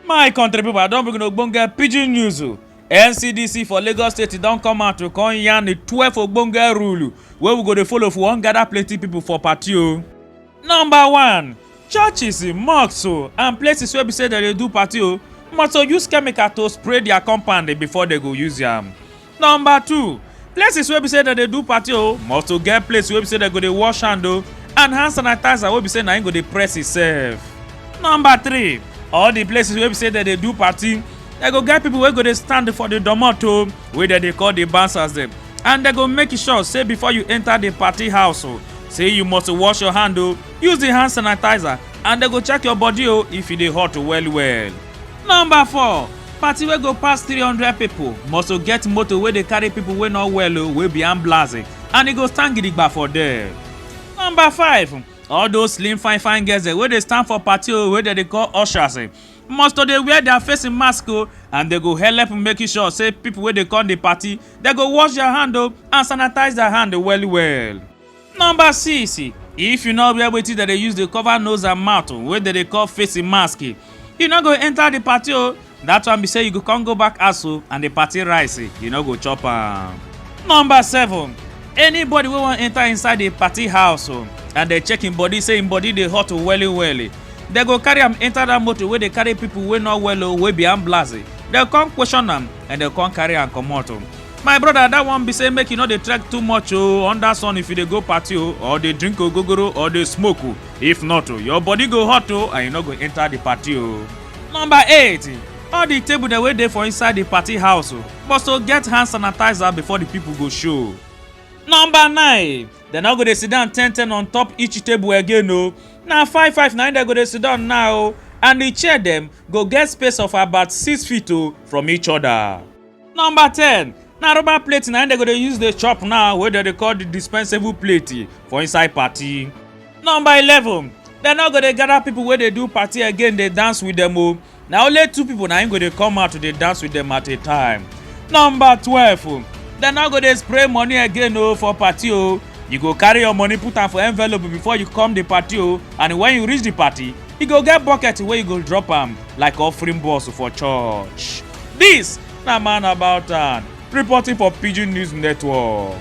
my country pipo i don bring una ogbonge pidgin news o ncdc for lagos state don come out to come yarn di twelve ogbonge rule wey we go dey follow if we wan gather plenty pipo for party o. number one churches mosques o and places wey be say dem dey do party o must to use chemical to spray their compound before dem go use am Number two, places wey be say dem dey do party o must to get place wey be say dem go dey wash hand o and hand sanitizer wey be say na im go dey press itself. Number three, all the places wey be say dem dey do party dem go get people wey go dey stand for the domot o wey dem dey call the bouncers dem and dem go make sure say before you enter the party house o say you must wash your hand o use the hand sanitizer and dem go check your body o if e dey hot well well. Number four, party wey go pass three hundred pipo must to get motor wey dey carry pipo wey no well o wey be ambulance and e go stand gidigba for there. Number five, all those slim fine fine girls wey dey stand for party o wey dem dey call ushers must to dey wear their face mask o and dem go helep make sure say pipo wey dey come di party dem go wash their hand o and sanitize their hand well well. Number 6. If you no wear wetin dem dey use dey cover nose and mouth wey dem dey call face mask, you no go enter the party o. That one be say you go come go back house o and the party rice you no go chop am. Number 7. Anybody wey wan enter inside the party house o and dem check im body say im body dey hot welly welly, dem go carry am enter that motor wey dey carry people wey no well o wey be ambulance. Dem come question am and dem come carry am comot o. my brother that one be say make you no dey trek too much o under sun if you dey go party o or dey drink ogogoro or dey smoke o if not o your body go hot o and you no go enter the party o. number eight all the table dem wey dey for inside the party house o must to get hand sanitizer before the people go show. number nine dem no go dey sit down ten ten on top each table again o na five five na im dem go dey sit down now o and the chair dem go get space of about six feet o from each other. Number 10 na rubber plate na im dem go dey use dey chop now wey dem dey call the dispensable plate for inside party. Number 11 dem no go dey gather people wey dey do party again dey dance with dem o na only two people na im go dey come out to dey dance with dem at a time. Number 12 dem no go dey spray money again o for party o you go carry your money put am for envelope before you come the party o and when you reach the party you go get bucket wey you go drop am like offering boss for church. This na man about town reporting for Pidgin News Network.